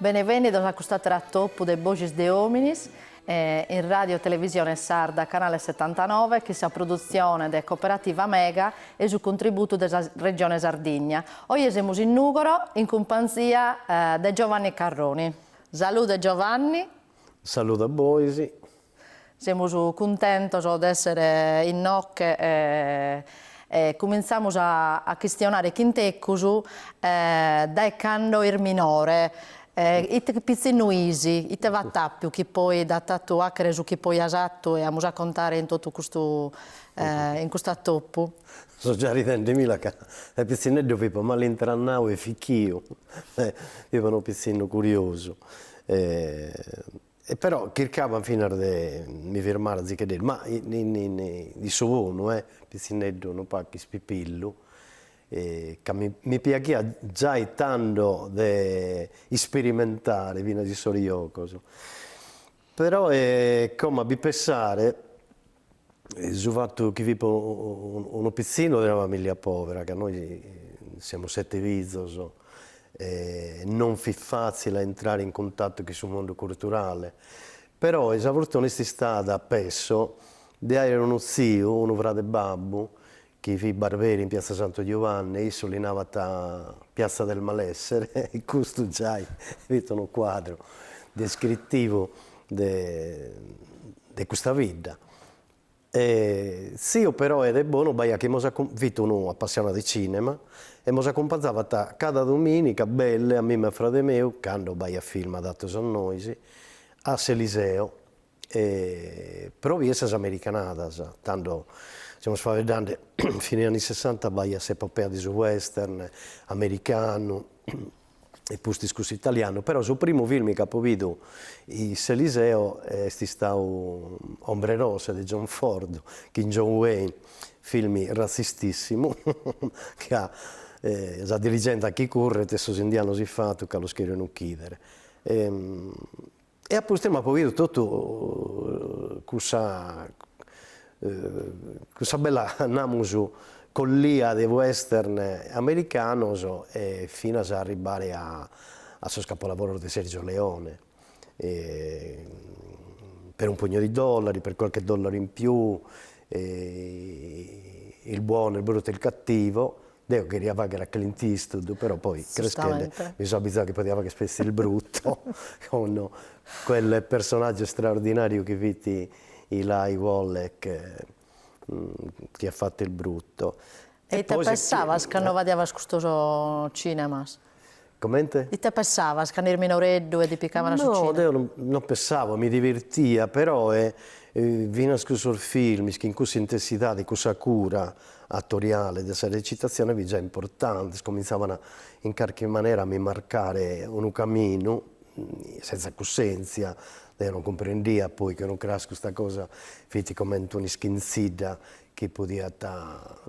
Benevènnidos a cust'àteru atopu de Boxis de Òminis in Ràdio Televisione Sarda Canale setantanove chin sa produtzione de Cooperativa Mega e su contributu de sa Regione Sardigna. Oje semus in Nùgoro in cumpanzia de Giovanni Carroni. Salude Giovanni. Saludu a bois. Semus cuntentos de essere innoche e cuminzamus a chistionare chin tecus dae cando fis minore ite pitzinnu fis, ite b'at àpiu chi poi t'at fatu fàchere su chi poi as fatu e amus a contare in totu custu in custu atopu. So già ridende·mi·la ca de pitzinneddu fipo mal'intrannau e fichiu, fipo unu pitzinnu curiosu E però chircabo finas de mi firmare azicheddeddu, ma in su bonu, e pitzinneddu unu pacu ispipillu, ca mi piaghiat giai tando de ispirimentare finas in sos jocos, però e como a bi pensare Su fatu chi fipo unu pitzinnu de una familia povera, ca nois semus sete fizos, non fit fatzile a intrare in cuntatu chin su mundu curturale, però sa fortuna est istada apesso de aer unu tziu, unu frade babbu chi fit barberi in piazza Santu Giuvanni e issu li nabat piazza del malessere e custu giai fit unu cuadru descrittivu de de custa bidda. E tziu però e de bonu b'aiat chi mos fit unu appassionau de cinema e mos accumpanzabat cada dominica belle a mimma e a frade meu, cando b'aiat film adattos a nois, a s'Eliseo E pro bider sas americanadas, tando semus faeddende de fine anni sessanta b'aiat s'epopea de su western americanu e pustis cussu italianu, però su primu film chi apo bidu in s'Eliseo est istadu Ombre Rosse de John Ford chin John Wayne, film razzistissimu ca sa diligentza chi curret e sos indianos ifatu ca los cheren uchidere E a pustis m'apo bidu totu cussa cussa bella namus collia de western americanos e finas a arribbare a a sos capolavoros de Sergio Leone per un pugno di dollari, per qualche dollaro in più, il buono, il brutto e il cattivo Deo cheria fagher a Clint Eastwood però poi creschende mi so abizau chi podia fagher pessi il brutto con quel personaggio straordinariu chi fit Eli Wallach chi at fatto il brutto. E ite pensavas cando bidias custos cinemas? Comente? Ite pessavas cando eris minoreddu e ti picavan a su cinema? No, deo non pessavo, mi divirtia, però finas cussos filmis chin cussa intessidade, cussa cura attoriale de sa recitazione fit già importante, cominzavana in carchi manera a mi marcare unu caminu, senza cussenzia, deo non cumprendia poi chi unu cras custa cosa fit comente un'ischinzidda chi podiat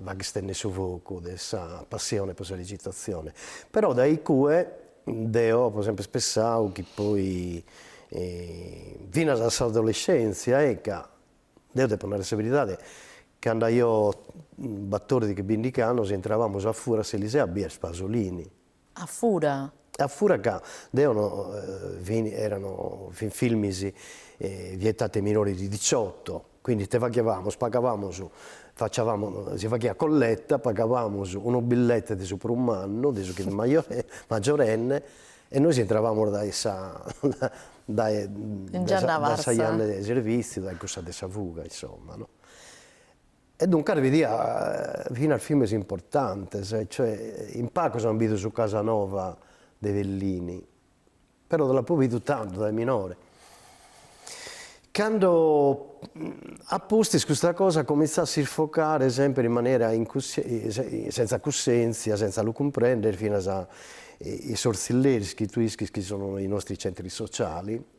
fagher istennere su fogu de sa passione pro sa recitazione, però dae iccue deo apo sempre pensadu chi poi finas a s'adolescèntzia ecco, deo depo narrer sa beridade, cando aio batòrdighi bindighi annos intrabamus a fura a s'Eliseo a bider Pasolini A fura. A fura ca deo no fin erano fin filmis vietati ai minori di diciotto quindi ite faghiavamus pagavamus facciavamus si faghiat colletta pagavamus unu billete de su prus mannu de su chi fit maggiorenne e nois intravamus dae sa dae dae sa janna 'e serviziu dae cussa de sa fuga insomma no E duncas bidia finas filmes importantes, cioè in pagos an bidu su Casanova de Fellini, però deo l'apo bidu tando dae minore. Cando a pustis custa cosa comintzat a s'isfocare sempre in manera sentza cussèntzia, sentza lu cumprender, finas in sos tzilleris chi tue ischis chi sono i nostri centri sociali,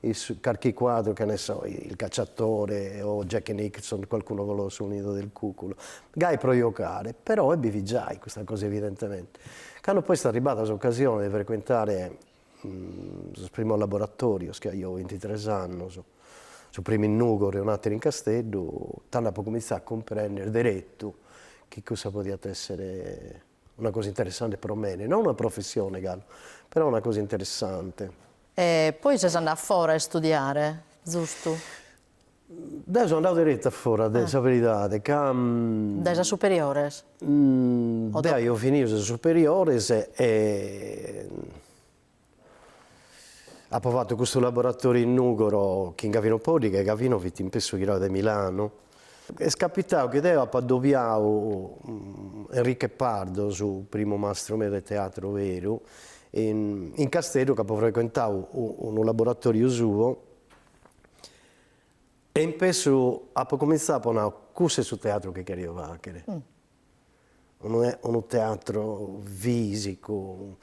in carchi cuadru che ne so il cacciatore o Jack Nicholson qualcuno volò sul nido del cuculo gai pro jocare però e bi fit giai custa cosa evidentemente cando poi est arribada s'occasione de frequentare sos primos laboratorios chi aio bintitres annos su primu in Nugoro e un'ateru in Casteddu tando apo cominzadu a cumprender derettu chi cussa podiat essere Una cosa interessante pro mene, no una professione galu, però una cosa interessante. E poi ses andadu a fora a istudiare, zustu? Deo so andadu deretu a fora, est sa beridade, ca. Dae sas superiores? Deo aio finiu sas superiores e Apo fatu custu laboratoriu in Nùgoro chin Gavino Poddighe e Gavino fit in pessu ghirau de Milanu. Est capitau chi deo apo adobiau Enriche Pardo, su primu mastru meu de teatru beru, in Casteddu ch'apo frecuentau unu laboratoriu suo e in pessu apo cumintzau, apo nau, cussu est su teatru chi cherio fàghere Unu unu teatru fisicu,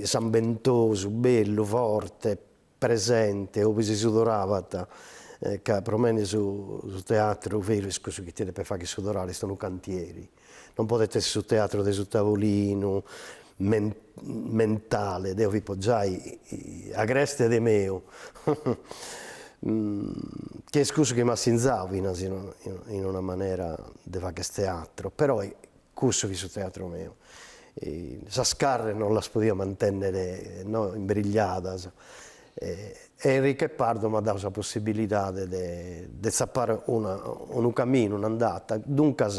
sambentosu, bellu, forte, presente, ube si sudorabat, ca pro mene su su teatru veru est cussu chi ti depet fagher sudorare, est unu cantieri, non podet esser su teatru de su tavolinu mentale, deo fipo giai agreste de meu, chi est cussu chi m'at sinzau finas in una manera de fagher teatro, però cussu fit su teatro meu, sas carres non las podia mantennere no imbrigliadas E Enrique Pardo m'at dadu sa possibilidade de de tzappare una unu camminu, un'andata, duncas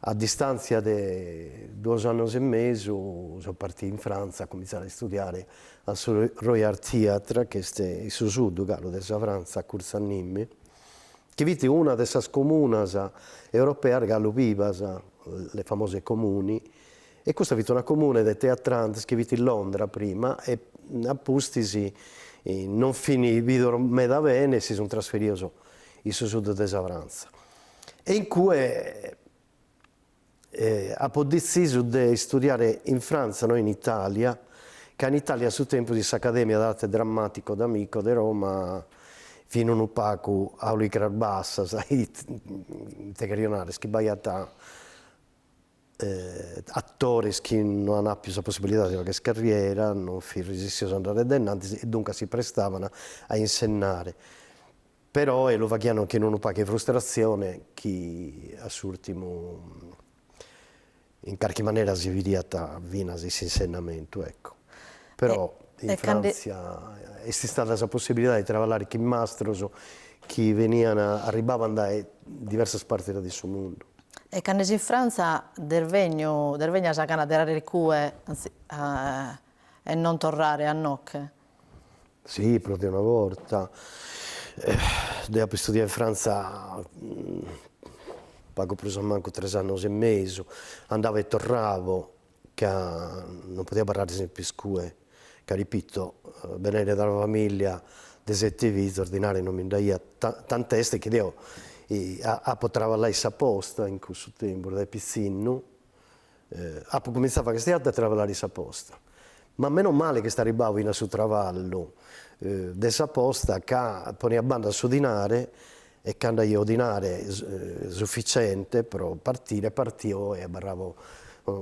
a distantzia de duos annos e mesu so partiu in Frantza a comintzare a istudiare a su Roy Hart Theatre chi est in su sud galu de sa Frantza a curtzu a Nîmes chi fit una de sas comunas europeas galu bivas, le famose comuni, E custa fit una comune de teatrantes chi fit in Londra prima e a pustis non fin bidos meda bene e si sunt trasferidos in su sud de sa Frantza. E in cue apo detzisu de istudiare in Frantza no in Italia, ca in Italia a su tempus in s'Academia de Arte Drammatico d'Amico de Roma fin unu pagu a oricras bassas ite cherjo narrer, chi b'aiat Atores chi no an apiu sa possibilidade de fagher carriera non fin resissios a andare de innantis e duncas si prestavan a insennare. Però e lu faghian chin unu pagu 'e frustratzione chi a s'urtimu in carchi manera si bidiat finas in s'insennamentu ecco. Però in Fràntzia est istada sa possibilidade de traballare chin mastros chi benian arribbaban dae diversas partes de su mundu. E cando si in Fràntzia dd'est bènniu dd'est bènnia sa gana de arreare icue e non torrare a inoche. Sì, prus de una borta. Deo apo istudiadu in Fràntzia pagu prus a mancu tres annos e mesu, andavo e torravo, ca non podia abarrare semper icue ca repito benende da una familia de sete fizos dinare non bi nd'aiat tant'est chi deo apo traballadu in sa posta in cussu tempus dae pitzinnu apo comintzadu a fagher sa diatta e a traballare in sa posta ma meno male chi est arribbadu finas su traballu de sa posta ca ponia a banda su dinare E cando aio dinare sufficiente pro partire e partio e abarravo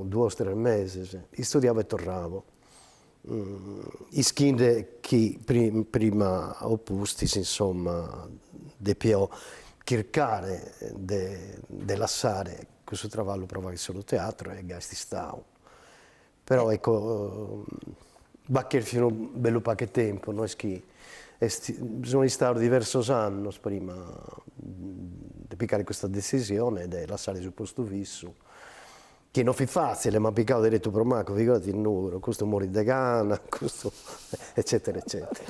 duos tres meses, istudiavo e torravo, ischinde chi prima o pustis insomma depio chircare de lassare cussu traballu pro fagher solu teatro e gai est istadu Però ecco b'at cherfiu unu bellu pacu 'e tempus, no est chi est, so istau diversos annos prima de pigare custa decisione de lassare su postu fissu, chi non fit fatzile, m'an pigau deretu pro macu, figurati in Nùgoro, custu morit de gana, custu eccetera eccetera.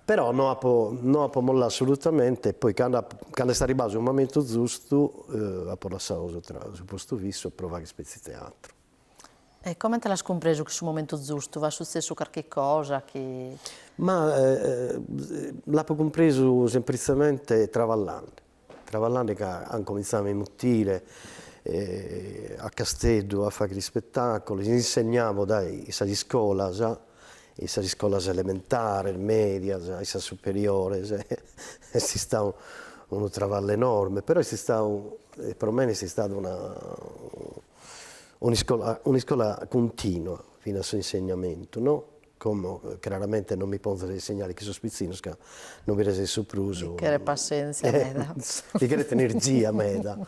Però no apo no apo mollau assolutamente e poi cando cando est arribbau su momentu zustu apo lassau su postu fissu pro fagher petzi teatru E comente l'as cumpresu chi su momentu zustu at sutzessu carchi cosa chi. Ma l'apo cumpresu sempritzamente traballende, traballende ca an comintzau a mi mutire a Casteddu a fagher ispetaculos, insegnavo dai in sas iscolas, in sas iscolas elementares, medias, in sas superiores est istau unu traballu enorme, però est istau pro mene est istada una un'iscola un'iscola cuntinua finas su insegnamentu no como craramente non mi ponzo a insegnare chin sos pitzinnos ca no bi resesso prus bi cheret passenzia meda bi cheret energia meda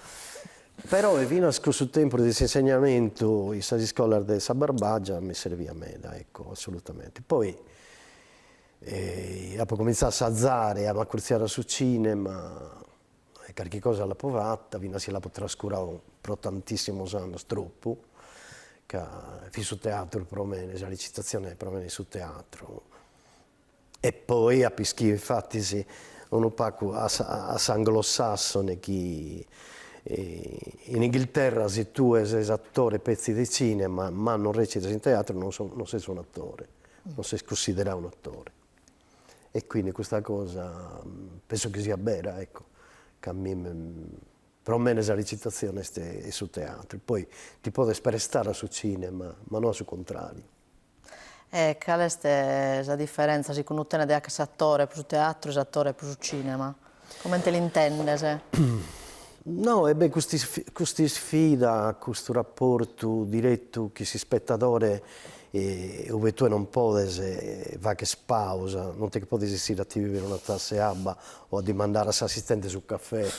peroe finas cussu tempus de s'insegnamentu in sas iscolas de sa Barbagia mi serviat meda ecco assolutamente poi apo cominzadu a azare a m'accurziare a su cinema e carchi cosa l'apo fata, finas si l'apo trascuradu pro tantissimos annos, tropu, ca fit su teatru pro mene, sa recitazzione pro mene fit su teatru e poi apo ischiu infattis unu pagu a a s'anglosassone chi in Inghilterra si tue ses attore petzi de cinema ma non recitas in teatru non ses un'attore, non ses cussideradu un'attore e quindi custa cosa penso chi siat bera ecco, ca a mie pro mene sa recitazione est est su teatru, poi ti podes prestare a su cinema ma no a su contrariu. E cale est sa diferenza sicundu tene de fagher s'attore pro su teatru e s'attore pro su cinema? Comente l'intendes? No, e beh, cust'isfida, custu raportu diretu chin s'ispetadore ue tue non podes fagher pausa, non ti che podes essire a ti bìvere una tassa 'e abba o a dimandare a s'assistente su cafè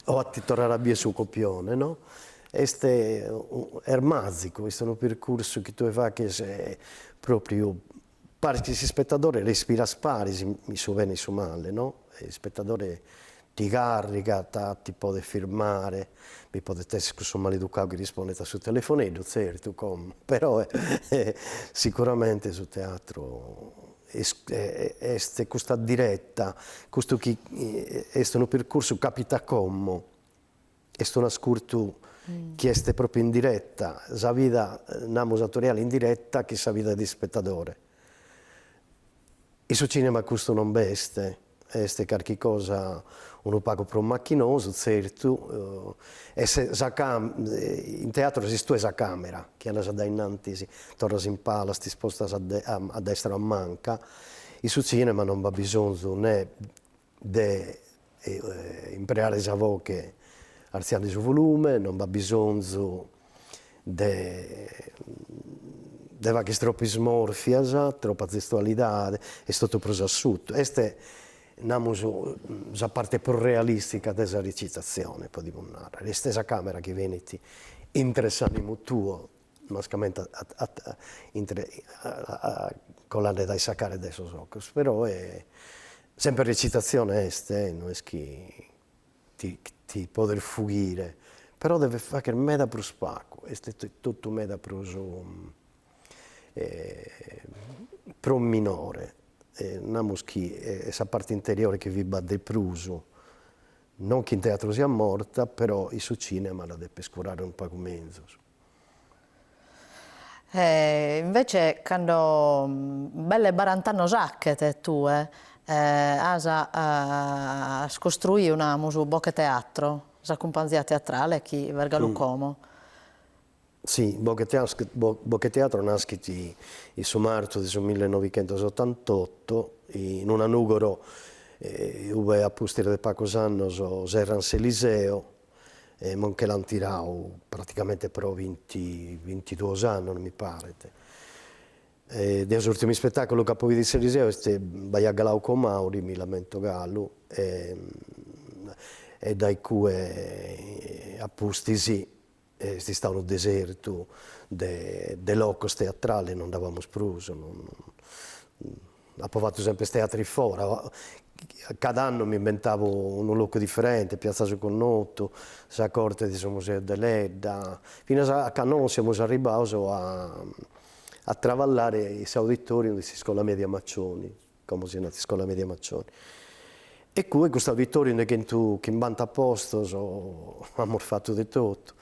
o a ti torrare a bier su copione, no? Est est màzicu, est unu percursu chi tue faghes pròpriu Paris chin s'ispetadore respiras paris in su bene e in su male, no? S'ispetadore ti carrigat, ti podet firmare, bi podet esser cussu maleducau chi rispondet a su telefoneddu, tzertu, como, però sicuramente su teatru est est custa diretta, custu chi est unu percursu capitat como Est unu ascurtu chi est pròpriu in direta, sa vida, namus atoriale, in direta chin sa vida de ispetadore. In su cinema custu non b'est, est carchi cosa unu pagu prus machinosu, tzertu, e in teatru ses tue sa càmera chi andas a dae innantis, torras in palas, t'ispostas a destra o a manca, in su cinema non b'at bisonzu nè de impreare sa voche artziande su volume, non b'at bisonzu de de fagher troppu ismorfias, troppa zestualidade, est totu prus assutu, est namus sa parte prus realistica de sa recitazzione podimus narrer, est sa camera chi benit intre s'animu tuo mascamente intre colande dae sa cara e dae sos ocos, però sempre recitazzione est e no est chi ti ti podes fughire, però deves fagher meda prus pagu, est totu meda prus prus minore e namus chi est sa parte interiore chi fit b'at de prus, non chi in teatru siat morta, però in su cinema la depes curare unu pagu menzus E invece cando belle barant'annos achet tue as as costruiu namus Boche Teatro, sa cumpanzia teatrale chi b'est galu como. Si, Boche Boche Teatro naschet in su martu de su mille novichentos otantotto in una Nugoro ue a pustis de pagus annos serrant s'Eliseo e mo nche l'ant tirau praticamente pro binti bintiduos annos mi paret, deo s'urtimu ispetaculu ch'apo bidu in s'Eliseo est b'aiat Glauco Mauri, mi l'ammento galu e dae cue a pustis est istau unu desertu de de locos teatrales, non nd'abamus prus Apo fatu semper su teatru in fora, cada annu m'imbentabo unu locu diferente, Piazza su Connotu, sa corte de su Museu Deledda, finas a cando semus arribbaus a a traballare in s'auditorium de s'iscola media Maccioni, como si nat, iscola media Macioni. E cue custu auditoriu de chentu chimbanta postos, amus fatu de totu,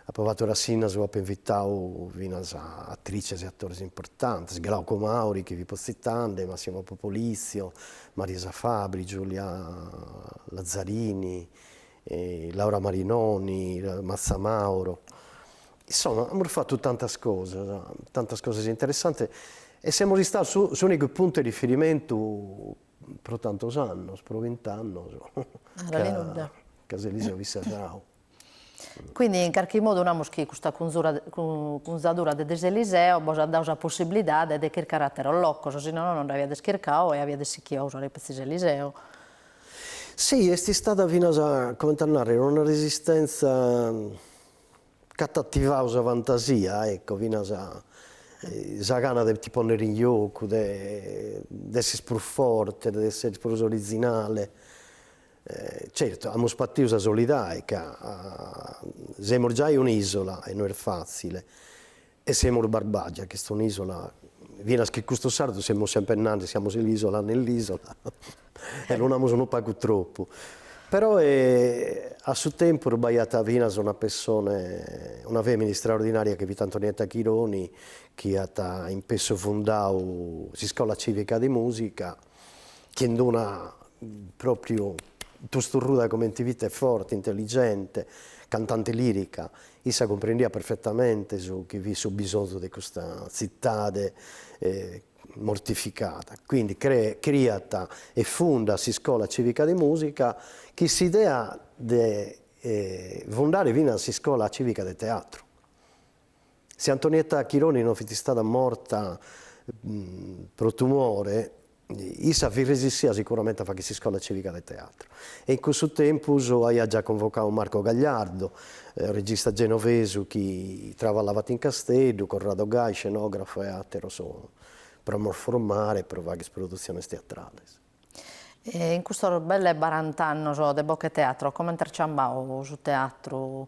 apo fatu rassinnas ue apo invitau finas a atrices e atores importantes, Glauco Mauri chi fipo tzitande, Massimo Popolizio, Marisa Fabbri, Giulia Lazzarini, Laura Marinoni, Mazzamauro, insoma amus fatu tantas cosas, tantas cosas interessantes e semus istaus s'unicu puntu 'e riferimentu pro tantos annos, pro bint'annos ca s'Eliseo fit serradu. Quindi in carchi modu namus chi custa cunzadura de de s'Eliseo bos at dadu sa possibilidade de chircare atteros locos, si nono no nd'aviades chircadu e aviades sichidu a usare petzi s'Eliseo. Si, est istada finas, comente a narrer, una resistenza Ch'at ativau sa fantasia, ecco, finas sa gana de ti ponnere in giocu, de de essere prus forte, de essere prus originale. Certu, amus patiu sa solidai ca semus giai un'isola e no est fatzile. E semus barbàgia chi est un'ìsola, finas chi custos sardos semus semper nande siamo l'isola nell'isola e lu namus unu pagu tropu. Però a su tempus b'aiat finas una pessone, una fèmina istraordinària chi fit Antonietta Chironi chi at in pessu fundadu s'Iscola Cìvica de Mùsica, chin d'una pròpriu tosturruda comente fit e forte, intelligente, cantante lirica, issa cumprendiat perfetamente su chi fit su bisonzu de custa tzitade mortificada, quindi criat e fundat s'iscola civica de musica chin s'idea de fundare finas s'iscola civica de teatru Si Antonietta Chironi no fit istada morta pro tumore, issa fit resissida sicuramente a fagher s'iscola cìvica de teatru e in cussu tempus aiat già convocadu Marco Gagliardo, regista genovesu chi traballavat in Casteddu, Corrado Gai, scenografu e àteros pro nos formare e pro fagher sas produtziones teatrales. In custos belle barant'annos de Bocheteatro comente at ciambadu su teatru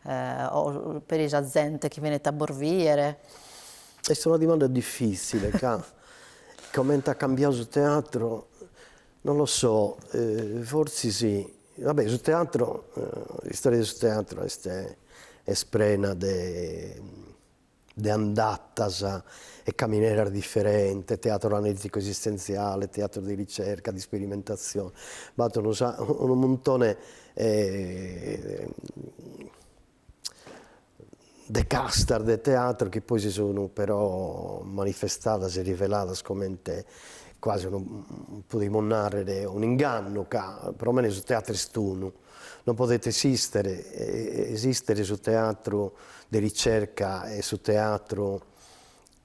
o peri sa zente chi benit a bos biere? Est una dimanda diffizzile ca comente at cambiadu su teatru non lo so, forzi si, va bè su teatru, s'istoria de su teatru est est prena de de andatas e camineras diferentes, teatro analìticu-esistentziale, teatro di ricerca, di sperimentazione, b'at unu unu muntone de castas de teatro chi poi si sun però manifestadas e riveladas comente quasi unu podimus narrer un'ingannu ca pro mene su teatro est unu Non podet esistere, esistere su teatru de ricerca e su teatru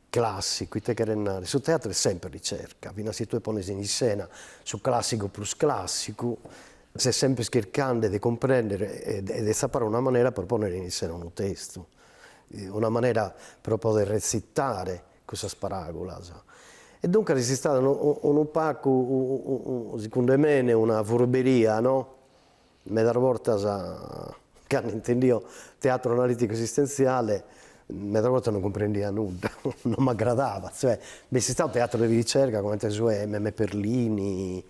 classicu, ite cheret narrer, su teatru est sempre ricerca, finas si tue pones in issena su classicu prus classicu, ses sempre chircande de cumprender e de zappare una manera pro ponner in issena unu testu, una manera pro poder rezittare cussas paràgulas. E duncas est istada unu pagu, sicunde mene, una furberia, no? Medas bortas, cando intendio teatru analìticu esistentziale, medas bortas non cumprendia nudda, non m'agradabat, cioè, b'est istadu teatru de ricerca comente su 'e Meme Perlini,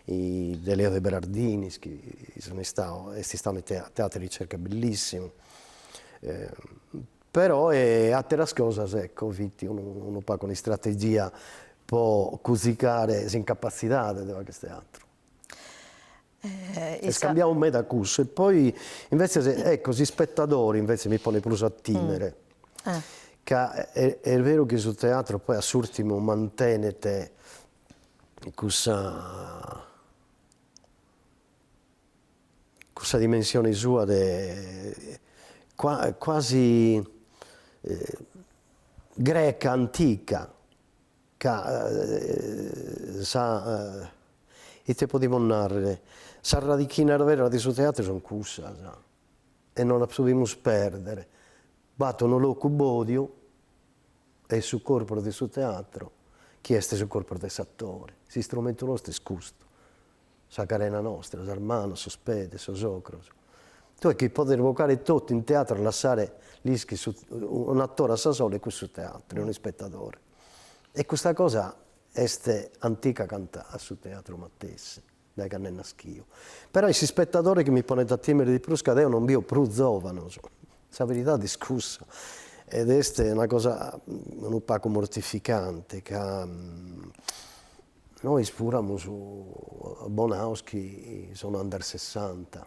de Leo de Berardinis, chi sun istadu, est istadu unu teatru 'e ricerca bellissimu Però e àteras cosas, ecco, fit unu pagu un'istrategia pro cusicare s'incapassidade de facher teatru. Est cambiadu meda cussu e poi invètzes, ecco, s'ispetadore invètzes mi ponet prus a tìmere, ca est beru chi su teatru poi a s'ùrtimu mantenet cussa cussa dimensione sua de quasi greca antica ca sa ite podimus narrer, sas radichinas beras de su teatru sun cussas e non las podimus perder, b'at unu locu bòdiu e su corpus de su teatru chi est su corpus de s'atore, s'istrumentu nostru est custu sa carena nostra, sas manos, sos pedes, sos ocros, tue chi podes bocare totu in teatru e lassare l'ischis un'attore a sa sola est cussu teatru e unu ispetadore e custa cosa est antica cantu a su teatru matessi dae cando est naschiu però est s'ispetadore chi mi ponet a timere de prus ca deo non bio prus zovanos sa beridade est cussa ed est una cosa unu pagu mortificante ca Nois puru amus abbonaus chi sono under sessanta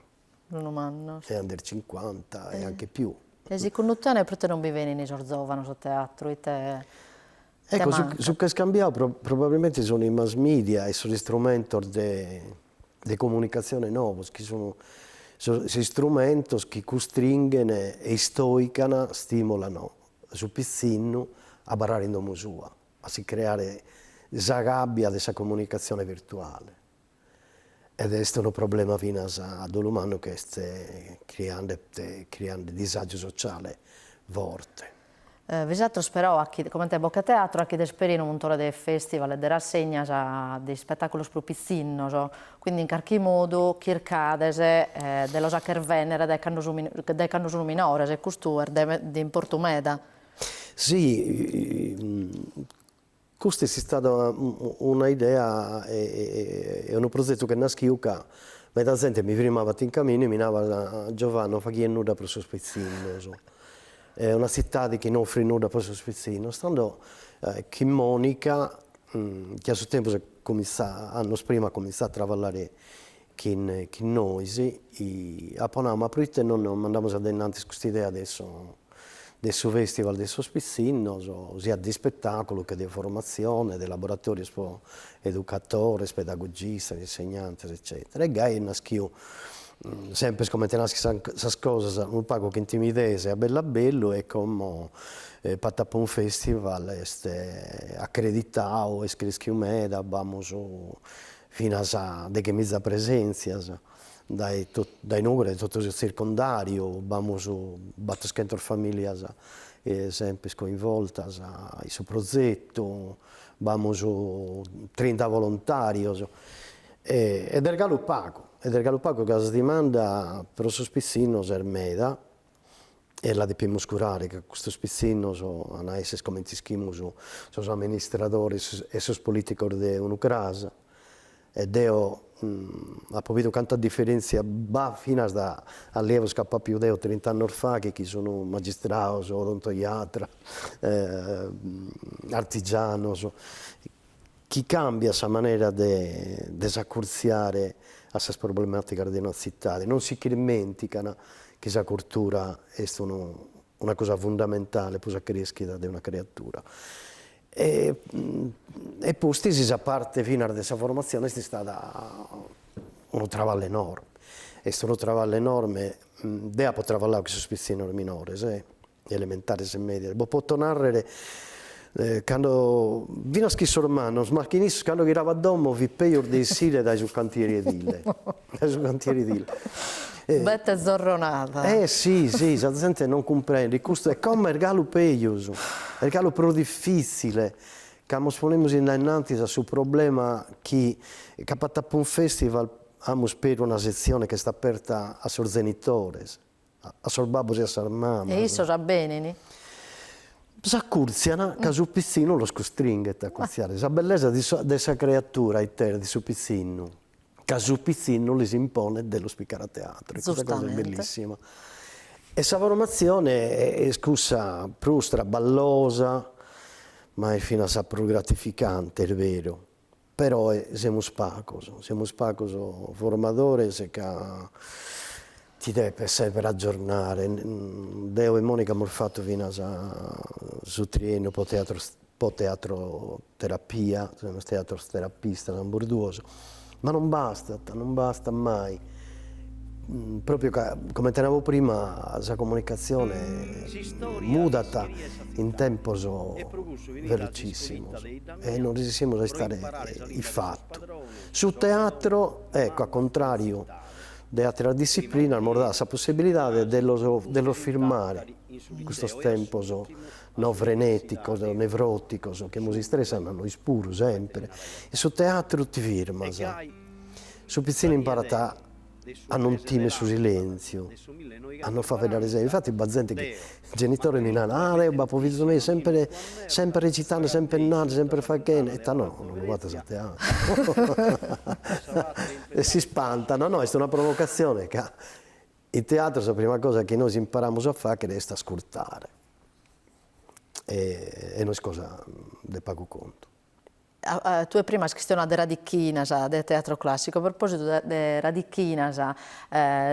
Unu mannu e under cincuanta e anche più. E sicundu tene proite non bi benin sos zovanos a teatru, ite ite Ecco, su mancat? su ch'est cambiau pro probabilmente sono i mass media e sos istrumentos de de comunicatzione novos chi sun sos istrumentos chi custringhen e istoican, stimolano su pitzinnu a abarrare in domo sua a si creare sa gàbbia de sa comunicatzione virtuale ed est unu problema finas a dolu mannu chi est criande criande disàgiu sociale forte. Bisàteros però achi, comente Bocheteatro, achides peri unu muntone de festival e de rassegnas de ispetàculos pro pitzinnos, quindi in carchi modu chircades de los acher vènnere dae cando su dae cando sun minores e custu est de de importu meda. Si, custa est istada una idea e unu prozetu ch'est naschiu ca meda zente mi firmabant in caminu e mi nabat, Giovanni non faghies nudda pro sos pitzinnos, est una tzitade chi no offrit nudda pro sos pitzinnos, tando chin Monica, chi a su tempus comintzat, annos prima at comintzau a traballare chin chin nois, li apo nau, ma proite non mandamus a dainnantis cust'idea de su de su festival de sos pitzinnos, siat de ispetàculu che de formatzione, de laboratorios pro educatores, pedagogistas, insegnantes eccetera. E gai est naschiu, semper comente naschin sas sas cosas, unu pagu chin timidesa e a bellu a bellu e como Patapum Festival est accreditau, est creschiu meda, b'amus finas dechemiza presèntzias, dae dae Nùgoro dae totu su tzircundàriu b'amus batoschentos famìlias semper coinvoltas in su prozetu, b'amus trinta volontàrios e est galu pagu, est galu pagu ca sa dimanda pro sos pitzinnos est meda e la depimus curare ca custos pitzinnos ant a èssere comente ischimus sos amministradores e sos politicos de unu cras, e deo apo bidu canta diferentzia b'at finas de allievos chi apo àpiu deo trint'annos fachet chi sun magistrados, odontoiatras artigianos chi càmbiat sa manera de de s'acurtziare a sas problemàticas de una tzitade, non si ch'irmèntican chi sa curtura est unu una cosa fundamentale pro sa crèschida de una creatura. E e pustis sa parte finas de sa formatzione est istada unu traballu enorme, est unu traballu enorme, deo apo traballau cun sos pitzinnos minores elementares e mèdias, bos poto nàrrere cando finas chi sos mannos, ma chin issos cando ghirabo a domo fit peus de essire dae su cantieri edile. Bette zorronada. Eh si si, sa zente non cumprendit custu e como est galu peus, est galu prus difitzile ca mos ponemus innantis a su problema chi, ca Patapum Festival amus peru una setzione chi est aperta a sos zenitores, a sos babbos e a sas mamas. E issos benini. S'accurtzian ca su pizzinu los custringhet a accurtziare sa bellesa de sa creatura intera de su pizzinnu, ca su pizzinnu lis imponet de los piccare a teatru. E custa cosa est bellissima. E sa formatzione est cussa prus traballosa, ma est finas sa prus gratificante, est beru. Peroe semus pacos, semus pacos formadores ca ti depes sempre aggiornare, deo e Monica amus fattu finas su triennu po teatroterapia, semus teatroterapistas ambos duos, ma non bastat, non bastat mai Propriu ca, comente nabo prima, sa comunicatzione mudat in tempos velocìssimos e non resessimus a istare ifatu. Su teatro, ecco, a contràriu de àteras dissiplinas, mos dat sa possibilidade de los de los firmare in custos tempos no frenèticos, nevròticos, chi mos istressan nois puru sempre, in su teatru ti firmas Su pitzinu imparat a non timere su silèntziu, a non faeddare sempre. Infatis b'at zente chi, genitores mi narant, ah deo b'apo fizu meu, sempre sempre recitande, sempre nande, sempre faghende, ita no, non lu batas a teatro. E si spantano, no, est una provocazione ca in teatro sa prima cosa chi nois imparamus a faghere est ascurtare e non est cosa de pagu contu. Tue prima as chistionadu de radichinas, de teatro classicu, a propositu de radichinas,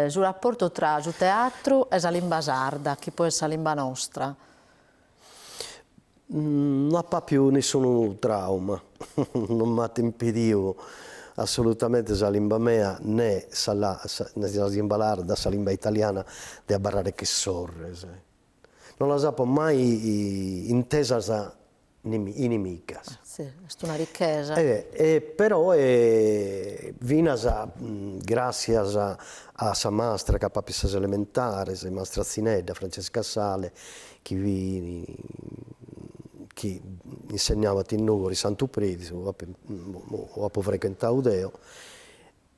su rapportu tra su teatru e sa limba sarda, chi poi est sa limba nostra. No apo apiu nessunu trauma, non m'at impidiu assolutamente sa limba mea, nè sa, sa limba sarda, sa limba italiana, de abarrare che sorres. No las apo mai intesas inimicas. Si, est una richesa. E peroe finas gràssias a sa mastra chi apo àpiu a sas elementares, mastra Zinedda, Francesca Sale, chi chi insegnabat in Nùgoro in Santu Predu, apo frequentau deo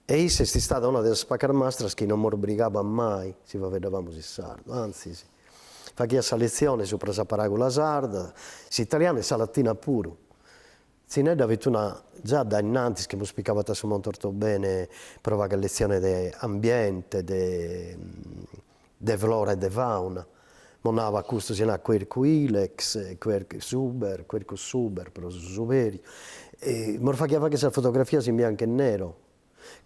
E issa est istada una de sas pacas mastras chi non mos brigabat mai si faeddabamus in sardu, antzis, faghiat sa letzione subra sa paràgula sarda, s'italiana e sa latina puru. Tzinedda fit una, già dae innantis chi mos picabat a su Monte Ortobene pro fagher letzione de ambiente, de. de flora e de fauna, mos naraba custu si narat quercus ilex, suber, quercus suber pro su suberiu, e mos faghiat fagher sas fotografias in biancu e nero,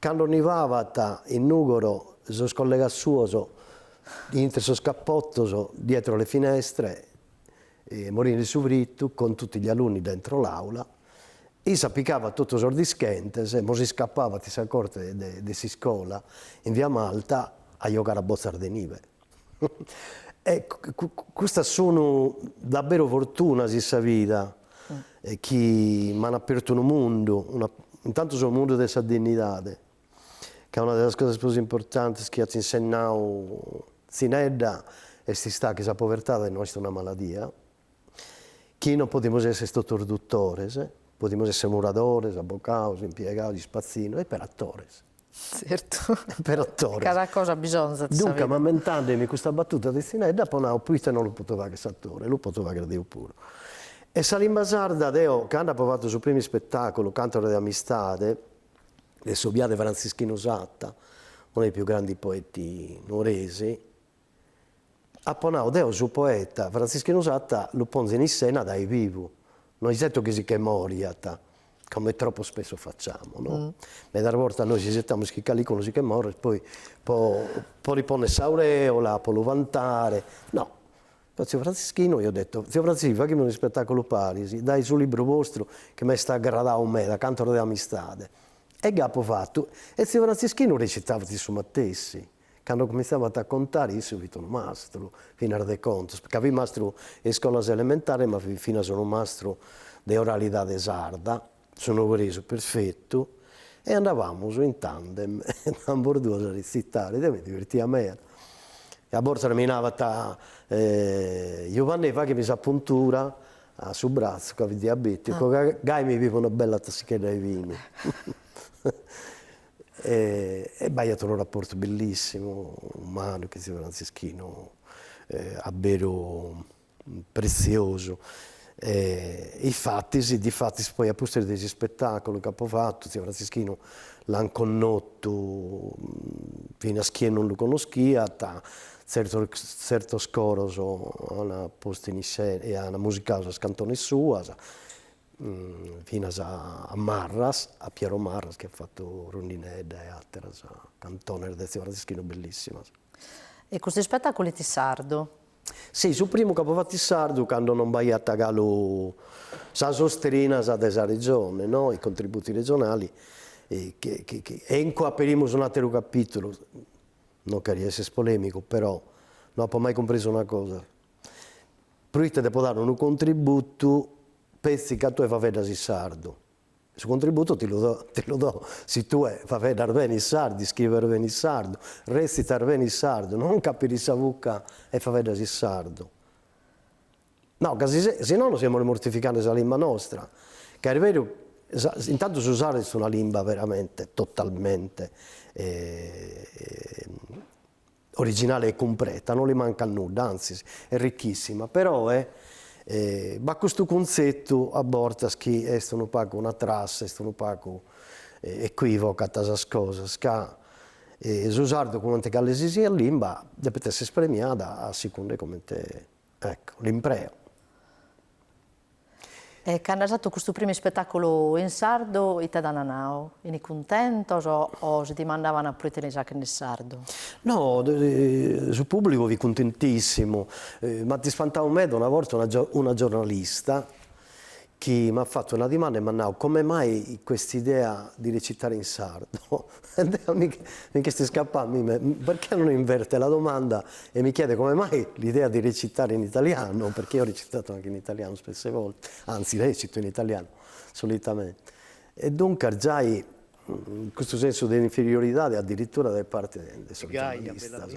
cando nivabat in Nùgoro sos collegas suos intre sos capotos dietro le finestre morinde in su fritu, con tutti gli alunni dentro l'aula. Issa picavat totus sos dischentes, mos iscapavat in sa corte de s'iscola, in via Malta, a giogare a botzas de nive. E custas sunt daberu fortunas in sa vida, chi m'ant apertu unu mundu, intantu su mundu de sa dinnidade, ca una de sas cosas prus importantes chi at insinnadu Tzinedda est istada chi sa povertade no est una maladia, chi non podimus esser totus dutores, podimus esser muradores, abocados, impiegados, ispatzinos e peri atores. Zertu. Peri atores. Cada cosa bisonzat in sa vida. Duncas, ammentandemi custa batuta de Tzinedda, apo nadu, proite non lu potzo fagher s'atore, lu potzo fagher deo puru. E sa limba sarda, deo cando apo fatu su primu ispetaculu, Cantos de amistade, de su biadu 'e Frantzischinu Satta, uno dei più grandi poeti nuoresi, apo nau, deu su poeta Frantzischinu Satta lu ponzu in issena dae bivu, no isetu chi si che moriat, come troppo spesso facciamo no, meda bortas nois isetamus chi calicunu si che morit poi po li ponner s'aureola, po lu vantare, no A tziu Franzischinu gli ho detto, Tziu Franzi, faghimus unu ispetàculu paris, dae su libru vostru chi m'est agradau meda, Cantos de amistade. E gai apu fatu, e tziu Franzischinu recitavat issu matessi. Cando cumintzavat a contare, issu fit unu mastru, finas de contos, ca fit mastru 'e iscolas elementares ma fit finas unu mastru de oralidade sarda, su nugoresu perfetu e andabamus in tandem ambos duos a retzitare, deo mi divertia meda e a bortas mi navat Giuvannè faghimi sa puntura a su bratzu ca fit diabeticu ca gai mi bivo una bella tassichedda 'e binu e b'aiat unu rapportu bellissimu umanu chin ziu Franzischinu a beru pretziosu e infatis, difatis poi a pustis de s'ispetaculu ch'apo fatu tziu Frantzischinu l'an connotu finas chie non lu connoschiat, tzertos tzertos coros an postu in... e an musicadu sas cantones suas finas a Marras, a Piero Marras chi at fatu Rondinedda e atteras cantones de tziu Frantzischinu bellissimas. E cust'ispetaculu est sardu? Si, su primu c'apo fatu in sardu cando non b'aiat galu sas istrinas de sa Regione, no, i contributi regionali, e incue aperimus un'ateru capitulu, non cherio esser polemicu, però no apo mai cumpresu una cosa, proite depo dare unu contributu petzi ca tue faeddas in sardu, Su contributu ti lu dao, ti lu dao, si tue faeddas bene in sardu, iscribes bene in sardu, recitas bene in sardu, non ca aperis sa bucca e faeddas in sardu. No, ca si se, si nono semus mortificende sa limba nostra, ca est beru, sa, intantu su sardu est una limba veramente totalmente Originale e cumpreta, non li mancat nudda, antzis est richissima, però b'at custu cuntzetu a bortas chi est unu pagu una trassa, est unu pagu equivocat sas cosas, ca su sardu comente cale si siat limba depet esser ispremiada a secunda 'e comente Ecco, l'impreo. E cando as fatu custu primu ispetàculu in sardu, ite t'ant nau? Fini cuntentos o si dimandavant pro ite l'est fachende sardu? No, su pùblicu fit cuntentìssimu. M'ant ispantau meda una borta una giornalista, chi m'at fatu una dimanda e m'at nau come mai quest'idea di recitare in sardo? E deo mi ch'est iscapau a mie, perchè non inverte la domanda e mi chiede come mai l'idea di recitare in italiano, perchè io ho recitato anche in italiano spesse volte, anzi recito in italiano solitamente. E duncas giai custu sensu de inferioridade addirittura de parte de sos giornalistas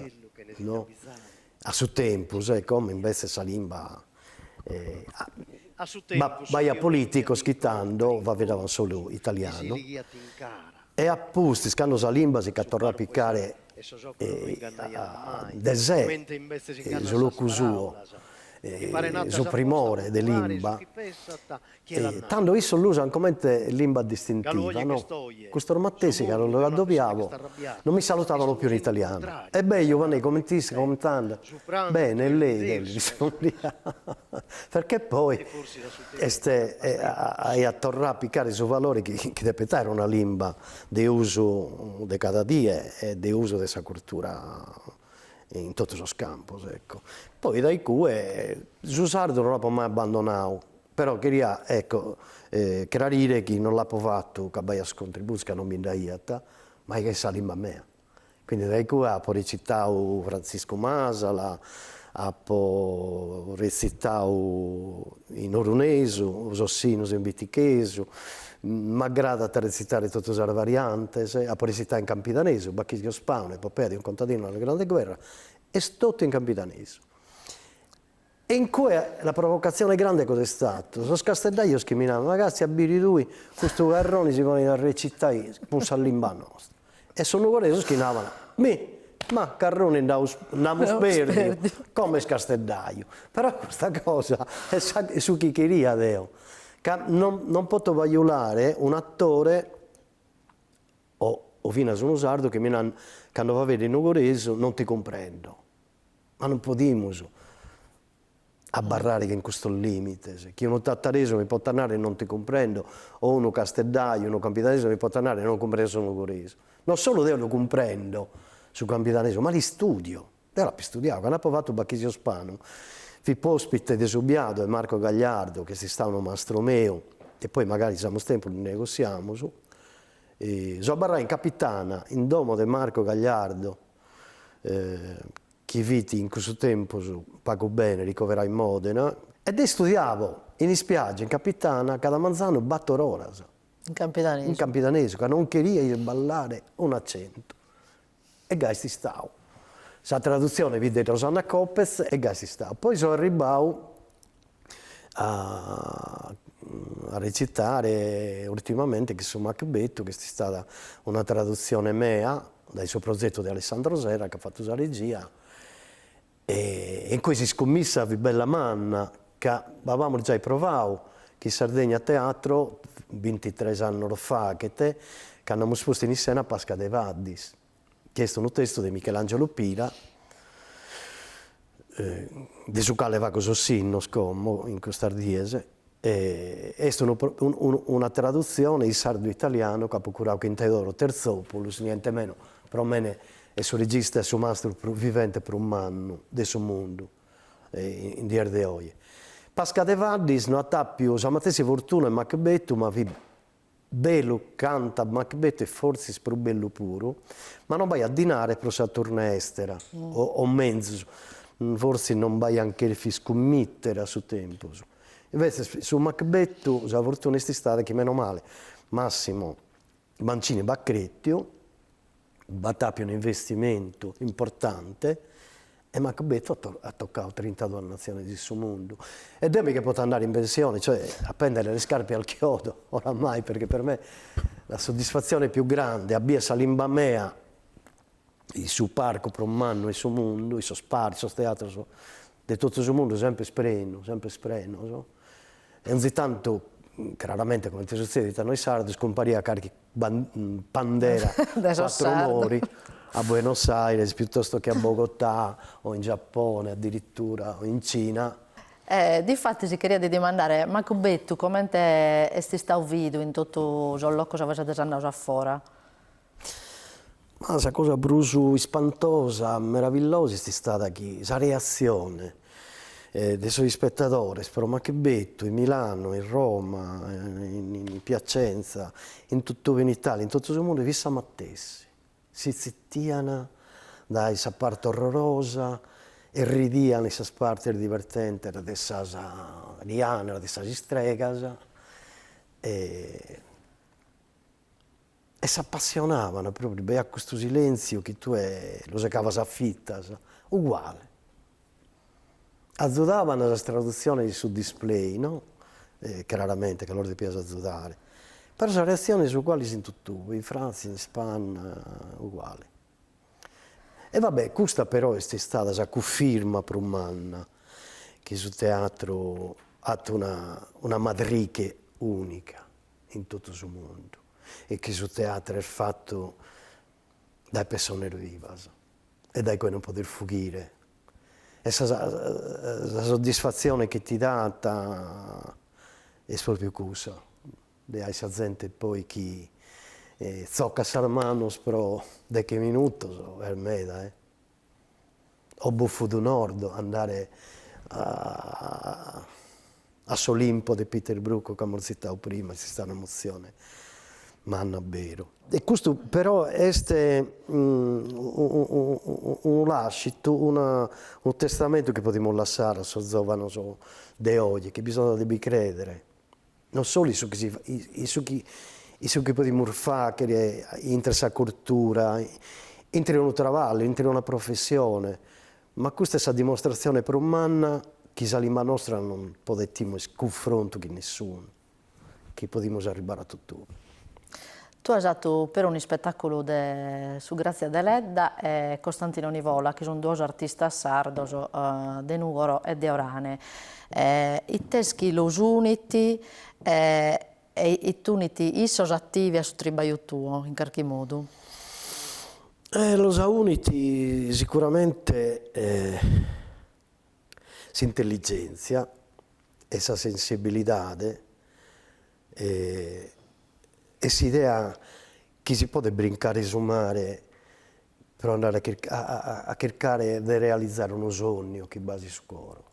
no A su tempus, e como imbetzes sa limba b'aiat polìticos chi tando faeddaban solu italianu, e a pustis cando sa limba si ch'at torradu a picare de se, su locu suo, su primore de limba, Tando issos l'usan comente limba distintiva, no? Custos matessi, cando los addobiavo, non mi salutavano più in italiano. Ebbè, Jubanne, coment'istas, coment'andat, Bene, e lei? Bene, rispondia, perchè poi est aiat torrau a picare su valore chi depet aer una limba de usu de cada die e de usu de sa cultura in totu sos campos, ecco. Poi dae iccue su sardu non l'apo mai abbandonau, Però cheria, ecco, crarire chi non l'apo fatu ca b'aiat contributos ca non bi nd'aiat, ma ca est sa limba mea. Quindi dae iccue apo retzitau Frantziscu Masala, apo retzitau in orunesu, Sos sinnos in bitichesu, m'agradat a retzitare totu sas variantes, apo retzitau in campidanesu, Bachisio Spanu, epopea de un contadino nella Grande Guerra, est totu in campidanesu E in cue la provocazione grande cosa est statu? Sos casteddajos chi mi nant, ma castia a biri tui custu Carroni si ponit a recitai cun sa limba nostra. E sos nugoresos chi naban, mi, ma Carroni nd'aus, nd'amus perdiu, como est casteddaju. Però custa cosa est sa est su chi cheria deo, ca non non poto bajulare un'attore o o finas unu sardu chi mi nant cando faveddo nugoresu non ti cumprendo. ma non podimus abarrare chin custos limites, chi unu tattaresu mi potat narrer non ti cumprendo o unu casteddaiu, unu campidanesu mi potat narrer non cumprendo su nugoresu. Non solu deo lu cumprendo su campidanesu, ma l'istudio, deo l'apo istudiau, cando apo fattu Bachisio Spanu fipo ospite de su biadu 'e Marco Gagliardo, ch'est istau unu mastru meu, e poi magari si amus tempus lu negossiamus, so abarrau in Capitana, in domo de Marco Gagliardo chi fit in cussu tempus pagu bene ricoverau in Modena, e deo istudiavo in ispiaggia, in Capitana, cada manzanu bator oras. In campidanesu. In campidanesu, ca non cheria isballare un'accentu. E gai est istau. Sa tradutzione fit de Rosanna Copez e gai est istau. Poi so arribbau a a recitare ultimamente chin su Macbettu ch'est istada una tradutzione mea dae su prozettu de Alessandro Serra ch'at fattu sa regia e e incue s'iscummissa fit bella manna ca b'abamus giai provau chin Sardegna Teatro bintitres annos faghet cando amus postu in iscena Pasca Devaddis chi est unu testu de Michelangelo Pira, de su cale fago sos sinnos como in custas dies, e est una tradutzione in sardu-italianu chi apo curadu chin Theodoros Terzopoulos, niente meno, pro mene est su regista e su mastru prus vivente prus mannu de su mundu in dies de oe. Pasca de Gaddis no at àpiu sa matessi fortuna 'e Macbetu ma fit Bellu canta Macbetu e fortzis prus bellu puru, ma no b'aiat dinare pro sa tournée èstera, o menzus, fortzis non b'aiant cherfiu iscummitere a su tempus. Imbetzes su Macbetu sa fortuna est istada chi menomale Massimo Mancini b'at cretiu, b'at appiu un'investimentu importante e Macbetu at tocau trintaduas natziones in su mundu e deo mi che potzu andare in pensione, cioè appendere le scarpe al chiodo oramai perché per me la soddisfazione più grande a bier sa limba mea in su parcu prus mannu 'e su mundu, in sos parcos, in sos teatros de totu su mundu semper prenos e onzi tantu, craramente comente suzzedit a nois sardos, cumpariat carchi bandera de sos quattro mori a Buenos Aires piuttosto che a Bogotà o in Giappone addirittura o in Cina. E difatis ti cheriat dimandare, Macbetu, comente est istadu vidu in totu sos locos inuve seis andados a fora? Ma sa cosa prus ispantosa, meravillosa est istada chi sa reatzione de sos ispetadores pro Macbetu in Milanu, in Roma, in Piacenza, in totu in Italia, in totu su mundu fit sa matessi, si tzitian dae sa parte orrorosa e ridian in sas partes divertentes de sas dianas, de sas istregas e e s'apassionavan propriu, b'aiat custu silentziu chi tue lu segavas a fitas, uguale. Azudavan sas tradutziones in su display, no craramente ca los depias azudare, però sas reatziones uguales in totuve, in Frantzia, in Ispanna, uguale. E va bè, custa però est istada sa cufirma prus manna chi su teatru at una una madrighe unica in totu su mundu e chi su teatru est fatu dae pessones vivas e dae cue non podes fughire e sa sa soddisfatzione chi ti dat est propriu cussa de ai sa zente poi chi zoccat sas manos pro deghe minutos est meda e o Bouffes du Nord, andare a s'Olimpo de Peter Brook chi amus tzitadu prima, est istada una emozione manna beru. E custu però est unu lascitu, unu testamentu chi podimus lassare a sos zovanos de oje, chi bisonzat de bi credere non solu in su chi si in su chi in su chi podimus fàghere intre sa curtura, intre unu traballu, intre una professione, ma custa est sa dimostratzione prus manna chi sa limba nostra non podet timere cunfrontu cun nessunu, chi podimus arribbare a totue. Tu as fatu però un'ispetàculu de su Grazia Deledda e Costantino Nivola, chi sunt duos artistas sardos de Nùgoro e de Orane. Ite est chi los unit e ite unit issos a tibi e a su tribaju tuo, in carchi modu? Los unit sicuramente s'intelligèntzia e sa sensibilidade e s'idea chi si podet brincare su mare pro andare a chircare de realizare unu sognu chi b'as in su coro.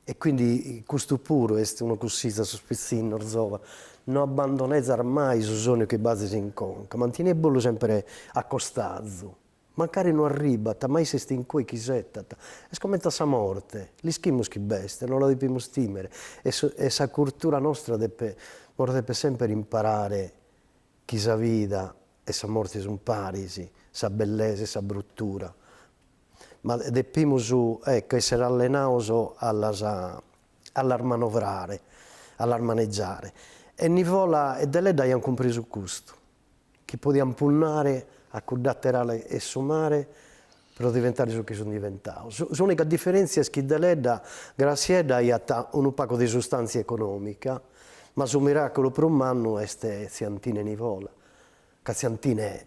E quindi custu puru est unu cussizzu a sos pitzinnos zòvanos, no abbandonezas mai su sognu chi b'azis in conca, mantenide·bollu sempre a costazu Mancari no arribat, ma isse est in cue chi isetat. Est comente a sa morte, l'ischimus chi b'est, no la depimus tìmere, e e sa curtura nostra depet nos depet semper imparare chi sa vida e sa morte sun paris, sa bellesa e sa brutura, ma depimus, ecco, esser allenados a las a las manovrare, a las manegiare. E Nivola e Deledda aiant cumprisu custu. chi podiant punnare a cudd'àter'ala 'e su mare pro diventare su chi sun diventados. S'ùnica diferèntzia est chi Deledda Grassiedda aiat unu pagu de sustàntzia econòmica, ma su miràculu prus mannu est Tziantine Nivola, ca Tziantine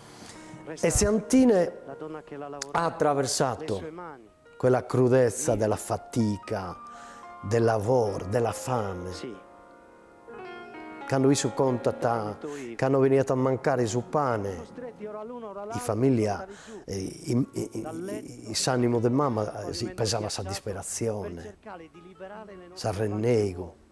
e Tziantine ha attraversato quella crudezza della fatica, del lavoro, della fame. Cando issu contat cando beniat a mancare su pane, in familia in s'animu de mama si pesava sa disperatzione, s'arrennegu.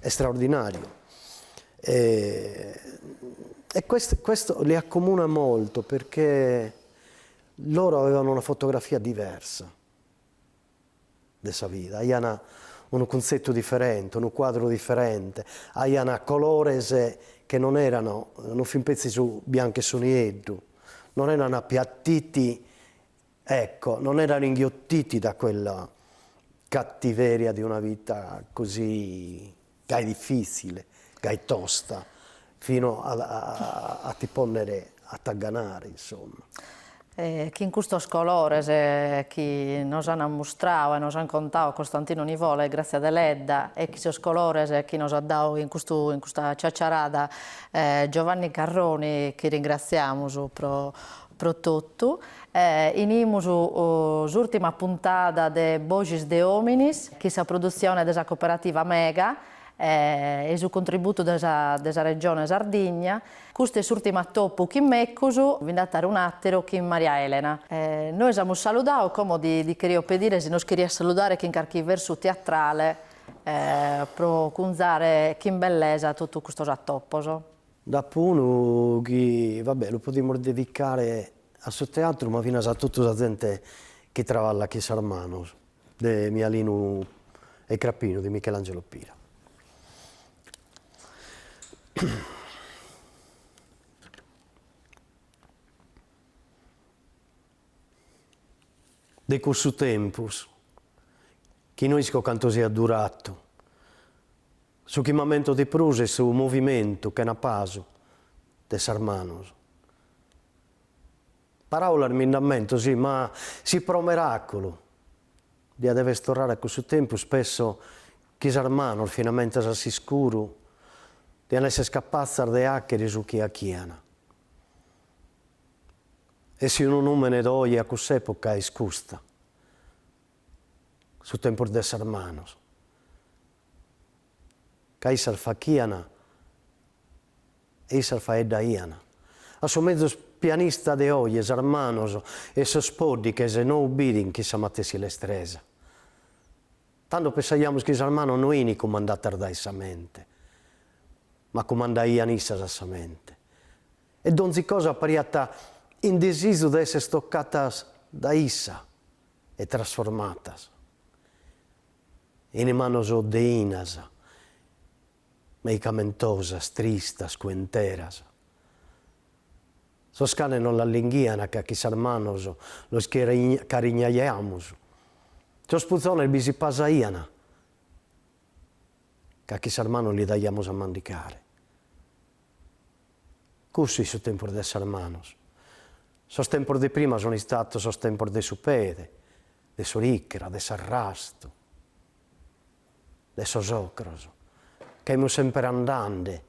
straordinàriu e questo li accomuna molto perché loro avevano una fotografia diversa de sa vida, aian unu cuntzetu diferente, unu cuadru diferente, aian colores che non erano, non fin petzi su biancu e su nieddu, non erano appiattiti Ecco, non erano inghiottiti da quella cattiveria di una vita così gai difìtzile, gai tosta, fino a ti ponnere a t'agganare, insomma. E chin custos colores chi nos an ammustrau e nos an contau Costantino Nivola e Grazia Deledda e chin sos colores chi nos at dau in custu in custa ciacciarada Giovanni Carroni chi ringraziamus pro Pro totu, inimus s'ùrtima puntada de Boxis de Ominis, chin sa produtzione de sa Cooperativa Mega e su contributu de sa Regione Sardigna. Custu est s'ùrtimu atopu chin mecus, bi nd'at a àere un'àteru chin Maria Elena. Nois amus saludau, como ti cherio pedire si nos cherias saludare chin carchi versu teatrale pro cunzare chin bellesa totu custos atopos. Nd'apo unu chi, va bè, lu podimus dedicare a su teatru ma finas a totu sa zente chi traballat chin sas manos, de Mialinu 'e Crapinu de Michelangelo Pira. De cussu tempus, chi no isco cantu siat duratu, Su chi m'ammento di prus est su movimentu chena pasu de sas manos. Paràulas mi nd'ammento, sì, ma si pro meràculu, dia dever torrare a cussu tempus, pesso chi sas manos, finamentas a s'iscuru, dian esser capatzas de àchere su chi achian. E si unu nùmene do oje a cuss'època est custa, su tempus de sas manos. ca issas fachian e issas faeddaian. A su mezus pianista de oje sas manos e sos poddighes no ubbidin chin sa matessi lestresa. Tando pessaiamus chi sas manos no ini cumandatas dae sa mente, ma cumandaian issas a sa mente. E donzi cosa pariat in desizu de esser toccatas dae issa e trasformatas. In manos deinas, meicamentosas, tristas, cuenteras. Sos canes nos las linghian ca chin sas manos los carignaiamus, sos puzones bi si pasaian ca chin sas manos li daiamus a mandicare. Cussu it su tempus de sas manos. Sos tempos de prima sun istatos sos tempos de su pede, de s'oricra, de s'arrastu, de sos ocros, ca imus semper andande,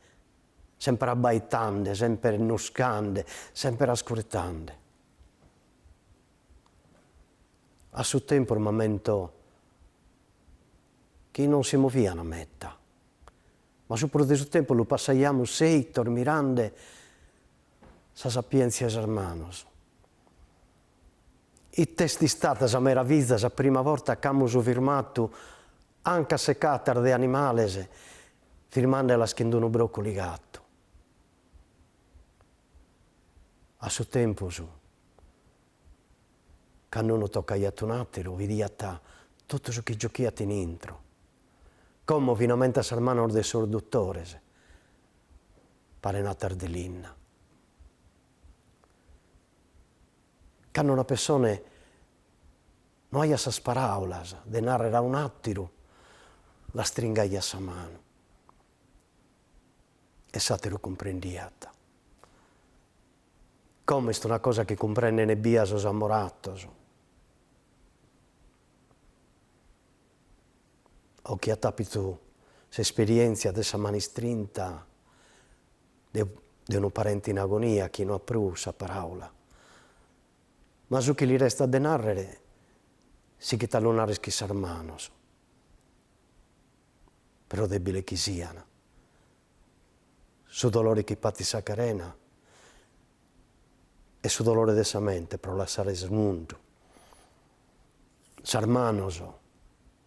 semper abbaitande, semper nuscande, semper ascurtande. A su tempus m'ammento chi non si movian meta, ma su prus de su tempus lu passaiamus seitos mirande sa sapientzia 'e sas manos Ite est istata sa meraviza sa prima vorta chi amus firmatu ancas secatas de animales firmandelas chin d'unu brocu ligatu. A su tempus candu unu tocaiat un'ateru idiat totu su chi giochiat in intro, como finamente a sas manos de sos duttores paren atas de linna. Cando una pessone no aiat sas paràulas de nàrrere a un'àteru, l'astringaiat sa manu e s'àteru cumprendiat. Como est una cosa chi cumprendent ebbia sos amoratos o chi at àpitu s'esperièntzia de sa manu istrinta de unu parente in agonia chi no at prus sa paraula. Ma su chi li restat de nàrrere sichit a lu nàrrere chin sas manos, pro dèbiles chi sian. Su dolore chi patit sa carena est su dolore de sa mente pro lassare su mundu. Sas manos